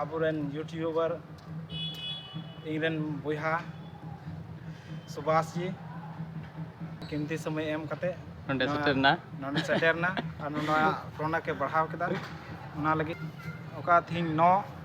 ᱟᱵᱚᱨᱮᱱ ᱤᱭᱩᱴᱤᱭᱩᱵᱟᱨ ᱤᱧᱨᱮᱱ ᱵᱚᱭᱦᱟ ᱥᱩᱵᱷᱟᱥ ᱡᱤ ᱠᱤᱢᱛᱤ ᱥᱚᱢᱚᱭ ᱮᱢ ᱠᱟᱛᱮ ᱱᱚᱰᱮ ᱥᱮᱴᱮᱨᱱᱟ ᱱᱚᱰᱮ ᱥᱮᱴᱮᱨᱱᱟ ᱟᱨ ᱱᱚᱣᱟ ᱯᱨᱚᱱᱟᱠᱮ ᱵᱟᱲᱦᱟᱣ ᱠᱮᱫᱟ ᱚᱱᱟ ᱞᱟᱹᱜᱤᱫ ᱚᱠᱟ ᱛᱤᱦᱤᱧ ᱱᱚ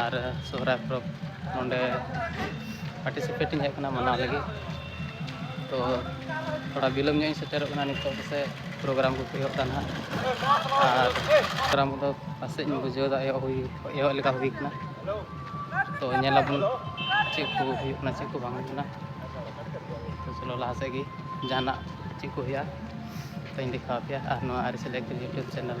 ᱟᱨ ᱥᱚᱦᱨᱟᱭ ᱯᱚᱨᱚᱵᱽ ᱱᱚᱰᱮ ᱯᱟᱨᱴᱤᱥᱤᱯᱮᱴ ᱤᱧ ᱦᱮᱡ ᱟᱠᱟᱱᱟ ᱢᱟᱱᱟᱣ ᱞᱟᱹᱜᱤᱫ ᱛᱚ ᱛᱷᱚᱲᱟ ᱵᱤᱞᱚᱢ ᱧᱚᱜ ᱤᱧ ᱥᱮᱴᱮᱨᱚᱜ ᱠᱟᱱᱟ ᱱᱤᱛᱚᱜ ᱯᱟᱥᱮᱡ ᱯᱨᱳᱜᱨᱟᱢ ᱠᱚᱠᱚ ᱮᱦᱚᱵ ᱮᱫᱟ ᱱᱟᱦᱟᱜ ᱟᱨ ᱯᱨᱳᱜᱨᱟᱢ ᱠᱚᱫᱚ ᱯᱟᱥᱮᱡ ᱤᱧ ᱵᱩᱡᱷᱟᱹᱣ ᱮᱫᱟ ᱮᱦᱚᱵ ᱦᱩᱭ ᱮᱦᱚᱵ ᱞᱮᱠᱟ ᱦᱩᱭ ᱠᱟᱱᱟ ᱛᱚ ᱧᱮᱞ ᱟᱵᱚᱱ ᱪᱮᱫ ᱠᱚ ᱦᱩᱭᱩᱜ ᱠᱟᱱᱟ ᱪᱮᱫ ᱠᱚ ᱵᱟᱝ ᱦᱩᱭᱩᱜ ᱠᱟᱱᱟ ᱛᱚ ᱪᱚᱞᱚ ᱞᱟᱦᱟ ᱥᱮᱫ ᱜᱮ ᱡᱟᱦᱟᱱᱟᱜ ᱪᱮᱫ ᱠᱚ ᱦᱩᱭᱩᱜᱼᱟ ᱛᱚᱧ ᱫᱮᱠᱷᱟᱣ ᱟᱯᱮᱭᱟ ᱟᱨ ᱱᱚᱣᱟ ᱟᱹᱨᱤᱪᱟᱹᱞᱤ ᱮᱠᱫᱚᱢ ᱤᱭᱩᱴᱩᱵᱽ ᱪᱮᱱᱮᱞ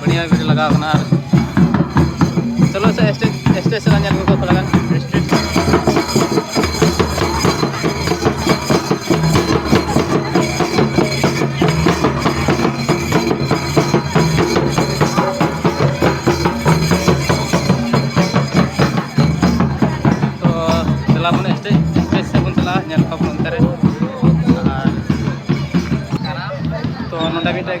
ᱵᱟᱹᱲᱤᱭᱟ ᱜᱟᱹᱰᱤ ᱞᱟᱜᱟᱣ ᱠᱟᱱᱟ ᱟᱨ ᱪᱚᱞᱚ ᱥᱮ ᱥᱴᱮᱡᱽ ᱥᱴᱮᱡᱽ ᱥᱮᱫ ᱧᱮᱞ ᱟᱹᱜᱩ ᱠᱚᱣᱟ ᱛᱷᱚᱲᱟ ᱜᱟᱱ ᱥᱴᱮᱡᱽ ᱛᱚ ᱪᱟᱞᱟᱣ ᱵᱚᱱ ᱥᱴᱮᱡᱽ ᱥᱴᱮᱡᱽ ᱥᱮᱫ ᱵᱚᱱ ᱪᱟᱞᱟᱜᱼᱟ ᱧᱮᱞ ᱠᱚᱣᱟ ᱵᱚᱱ ᱚᱱᱛᱮ ᱨᱮ ᱟᱨ ᱛᱚ ᱱᱚᱰᱮ ᱢᱤᱫᱴᱮᱡ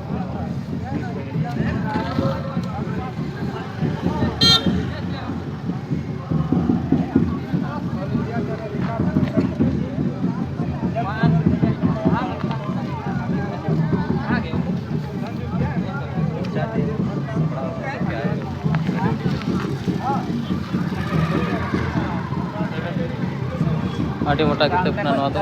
ᱟᱹᱰᱤ ᱢᱚᱴᱟ ᱠᱤᱛᱟᱹᱵ ᱠᱟᱱᱟ ᱱᱚᱣᱟ ᱫᱚ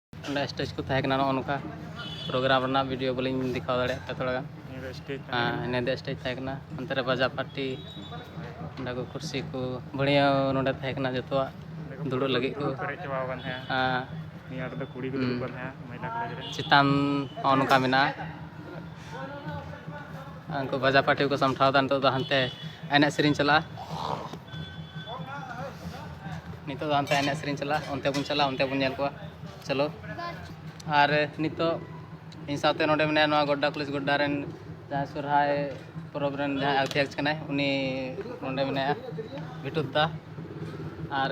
ᱚᱸᱰᱮ ᱥᱴᱮᱡᱽ ᱠᱚ ᱛᱟᱦᱮᱸ ᱠᱟᱱᱟ ᱱᱚᱜᱼᱚ ᱱᱚᱝᱠᱟ ᱯᱨᱳᱜᱨᱟᱢ ᱨᱮᱱᱟᱜ ᱵᱷᱤᱰᱤᱭᱳ ᱵᱟᱹᱞᱤᱧ ᱫᱮᱠᱷᱟᱣ ᱫᱟᱲᱮᱭᱟᱜ ᱯᱮᱭᱟ ᱛᱷᱚᱲᱟ ᱜᱟᱱ ᱧᱤᱫᱟᱹ ᱥᱴᱮᱡᱽ ᱛᱟᱦᱮᱸ ᱠᱟᱱᱟ ᱚᱱᱛᱮ ᱨᱮ ᱵᱟᱡᱟᱨ ᱯᱟᱴᱤ ᱚᱸᱰᱮ ᱠᱚ ᱠᱩᱨᱥᱤ ᱠᱚ ᱵᱟᱹᱲᱭᱟᱹ ᱱᱚᱸᱰᱮ ᱛᱟᱦᱮᱸ ᱠᱟᱱᱟ ᱡᱚᱛᱚᱣᱟᱜ ᱫᱩᱲᱩᱵ ᱞᱟᱹᱜᱤᱫ ᱠᱚ ᱪᱮᱛᱟᱱ ᱱᱚᱜᱼᱚ ᱱᱚᱝᱠᱟ ᱢᱮᱱᱟᱜᱼᱟ ᱩᱱᱠᱩ ᱵᱟᱡᱟ ᱯᱟᱴᱤ ᱠᱚ ᱥᱟᱢᱴᱷᱟᱣ ᱫᱟ ᱱᱤᱛᱚᱜ ᱫᱚ ᱦᱟᱱᱛᱮ ᱮᱱᱮᱡ ᱥᱮᱨᱮᱧ ᱪᱟᱞᱟᱜᱼᱟ ᱱᱤᱛᱚᱜ ᱫᱚ ᱦᱟᱱᱛᱮ ᱮᱱᱮᱡ ᱥᱮᱨᱮᱧ ᱪᱟᱞᱟᱜᱼᱟ ᱚᱱᱛᱮ ᱵᱚᱱ ᱪᱟᱞᱟᱜᱼᱟ ᱚᱱᱛᱮ ᱵᱚᱱ ᱧᱮᱞ ᱠᱚᱣᱟ ᱪᱚᱞᱚ ᱟᱨ ᱱᱤᱛᱚᱜ ᱤᱧ ᱥᱟᱶᱛᱮ ᱱᱚᱰᱮ ᱢᱮᱱᱟᱭᱟ ᱱᱚᱣᱟ ᱜᱚᱰᱰᱟ ᱠᱚᱞᱮᱡᱽ ᱜᱚᱰᱰᱟ ᱨᱮᱱ ᱡᱟᱦᱟᱸᱭ ᱥᱚᱨᱦᱟᱭ ᱯᱚᱨᱚᱵᱽ ᱨᱮᱱ ᱡᱟᱦᱟᱸᱭ ᱟᱨᱠᱤᱴᱮᱠᱴ ᱠᱟᱱᱟᱭ ᱩᱱᱤ ᱱᱚᱰᱮ ᱢᱮᱱᱟᱭᱟ ᱵᱤᱴᱩᱫ ᱫᱟ ᱟᱨ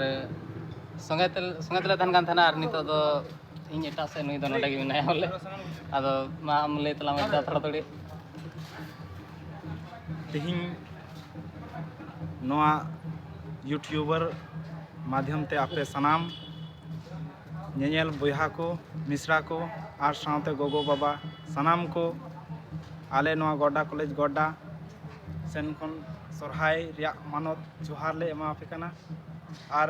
ᱥᱚᱸᱜᱮ ᱛᱮᱞᱮ ᱥᱚᱸᱜᱮ ᱛᱮᱞᱮ ᱛᱟᱦᱮᱱ ᱠᱟᱱ ᱛᱟᱦᱮᱱᱟ ᱟᱨ ᱱᱤᱛᱚᱜ ᱫᱚ ᱤᱧ ᱮᱴᱟᱜ ᱥᱮᱫ ᱱᱩᱭ ᱫᱚ ᱱᱚᱰᱮ ᱜᱮ ᱢᱮᱱᱟᱭᱟ ᱵᱚᱞᱮ ᱟᱫᱚ ᱢᱟ ᱟᱢ ᱞᱟᱹᱭ ᱛᱟᱞᱟᱝ ᱢᱮ ᱫᱟ ᱛᱷᱚᱲᱟ ᱛᱷᱚᱲᱤ ᱛᱮᱦᱮᱧ ᱱᱚᱣᱟ ᱤᱭᱩᱴᱤᱭᱩᱵᱟᱨ ᱢᱟᱫᱽᱫᱷᱚᱢ ᱛᱮ ᱟᱯᱮ ᱥᱟᱱᱟᱢ ᱧᱮᱧᱮᱞ ᱵᱚᱭᱦᱟ ᱠᱚ ᱢᱤᱥᱨᱟ ᱠᱚ ᱟᱨ ᱥᱟᱶᱛᱮ ᱜᱚᱜᱚ ᱵᱟᱵᱟ ᱥᱟᱱᱟᱢ ᱠᱚ ᱟᱞᱮ ᱱᱚᱣᱟ ᱜᱚᱰᱰᱟ ᱠᱚᱞᱮᱡᱽ ᱜᱚᱰᱰᱟ ᱥᱮᱱ ᱠᱷᱚᱱ ᱥᱚᱨᱦᱟᱭ ᱨᱮᱭᱟᱜ ᱢᱟᱱᱚᱛ ᱡᱚᱦᱟᱨ ᱞᱮ ᱮᱢᱟᱣᱟᱯᱮ ᱠᱟᱱᱟ ᱟᱨ